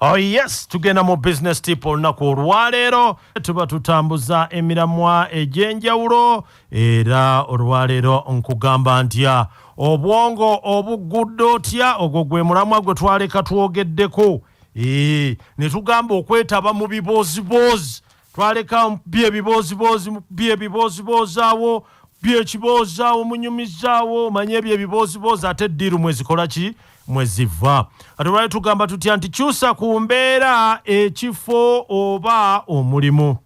Oh yes, tugenda mu business tip olunaku olwaleero tuba tutambuza emiramwa egy'enjawulo era olwaleero nkugamba ntya obwongo obugudde otya ogwo gwe mulamwa gwe twaleka twogeddeko ee ne tugamba okwetaba mu bibooziboozi twaleka mukubye ebibooziboozi mukubye ebibooziboozawo mukubye ekiboozaawo munyumizaawo manye ebyo ebibooziboozi ate eddiiru mwezikola ki mweziva kati olwali tugamba tutya nti kyusa ku mbeera ekifo oba omulimu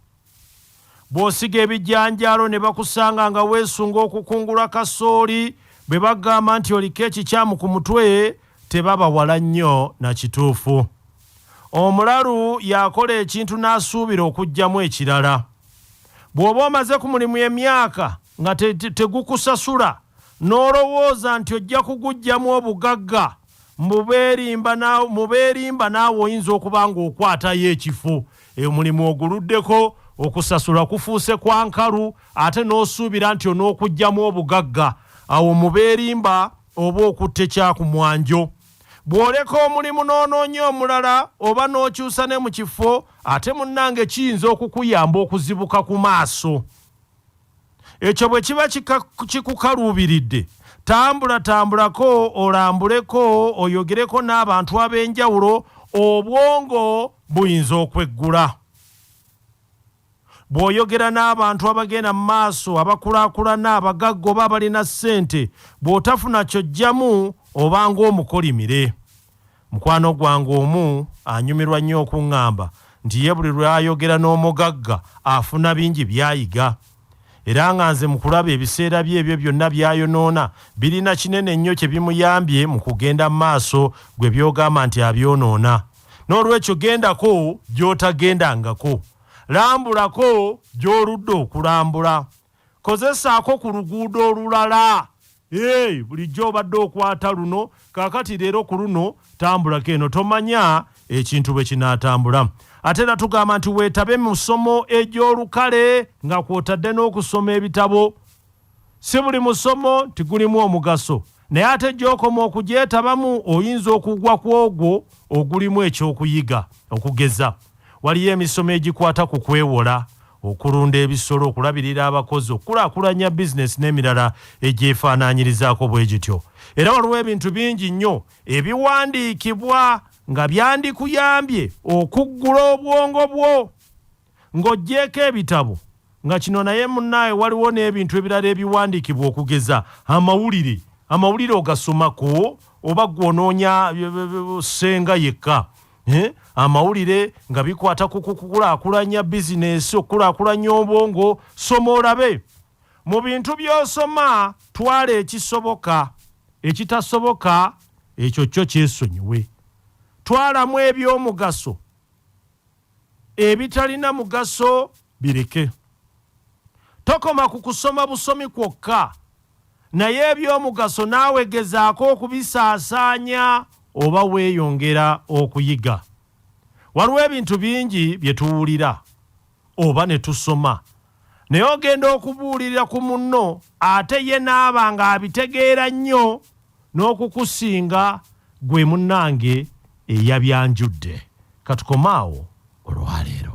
bw'osiga ebijanjaalo ne bakusanga nga weesunga okukungula kasooli bwe bagamba nti oliko ekikyamu ku mutwe tebabawala nnyo na kituufu Omulalu y'akola ekintu n'asuubira okuggyamu ekirala. Bw'oba omaze ku mulimu emyaka nga tegukusasula n'olowooza nti ojja kuguggyamu obugagga, mu beerimba naawe oyinza okuba ng'okwatayo ekifo. Omulimu oguluddeko, okusasula kufuuse kwa nkalu ate n'osuubira nti onookuggyamu obugagga. Awo mu beerimba oba okutte kyakumwanjo. Bw'oleka omulimu n'onoonya omulala oba n'okyusa ne mu kifo ate munnange kiyinza okukuyamba okuzibuka ku maaso. Ekyo bwe kiba kikukaluubiridde tambulatambulako olambuleko oyogereko n'abantu ab'enjawulo obwongo buyinza okweggula. Bw'oyogera n'abantu abagenda mu maaso, abakulaakulana, abagagga oba abalina ssente, bw'otafuna ky'oggyamu oba ng'omukolimire. Mukwano gwange omu anyumirwa nnyo okuŋŋamba nti ye buli lw'ayogera n'omugagga afuna bingi by'ayiga era nga nze mu kulaba ebiseera bye ebyo byonna by'ayonoona birina kinene nnyo kye bimuyambye mu kugenda mu maaso gwe by'ogamba nti abyonoona. n'olwekyo gendako gy'otagendangako lambulako gy'oludde okulambula kozesaako ku luguudo olulala ee bulijjo obadde okwata luno kaakati leero ku luno tambulako eno tomanya ekintu bwe kinaatambula ate era tugamba nti weetabe mu ssomo egy'olukale nga kw'otadde n'okusoma ebitabo Si buli musomo nti gulimu omugaso, naye ate gy'okoma okugyetabamu oyinza okugwa ku ogwo ogulimu eky'okuyiga. Okugeza, waliyo emisomo egikwata ku kwewola, okulunda ebisolo, okulabirira abakozi, okukulaakulanya bizinensi n'emirala egyefaanaanyirizaako bwe gityo. Era waliwo ebintu bingi nnyo ebiwandiikibwa nga byandikuyambye okuggula obwongo bwo. Ng'oggyeeko ebitabo, nga kino naye munnaaye waliwo n'ebintu ebirala ebiwandiikibwa okugeza amawulire, amawulire ogasomako oba ggwe onoonya ssenga yekka eh, amawulire nga bikwata ku kukulaakulanya bizinensi, okukulaakulanya obwongo, soma olabe. Mu bintu by'osoma twala ekisoboka, ekitasoboka ekyo kyo kyesonyiwe. Twalamu eby'omugaso. ebitalina mugaso bireke tokoma ku kusoma busomi kwokka naye ebyomugaso naawe gezaako okubisaasaanya oba weeyongera okuyiga waliwo ebintu bingi bye tuwulira oba ne tusoma naye ogenda okubuulirira ku munno ate ye naaba nga abitegeera nnyo n'okukusinga gwe munnange eyabyanjudde katukomaawo olwaleero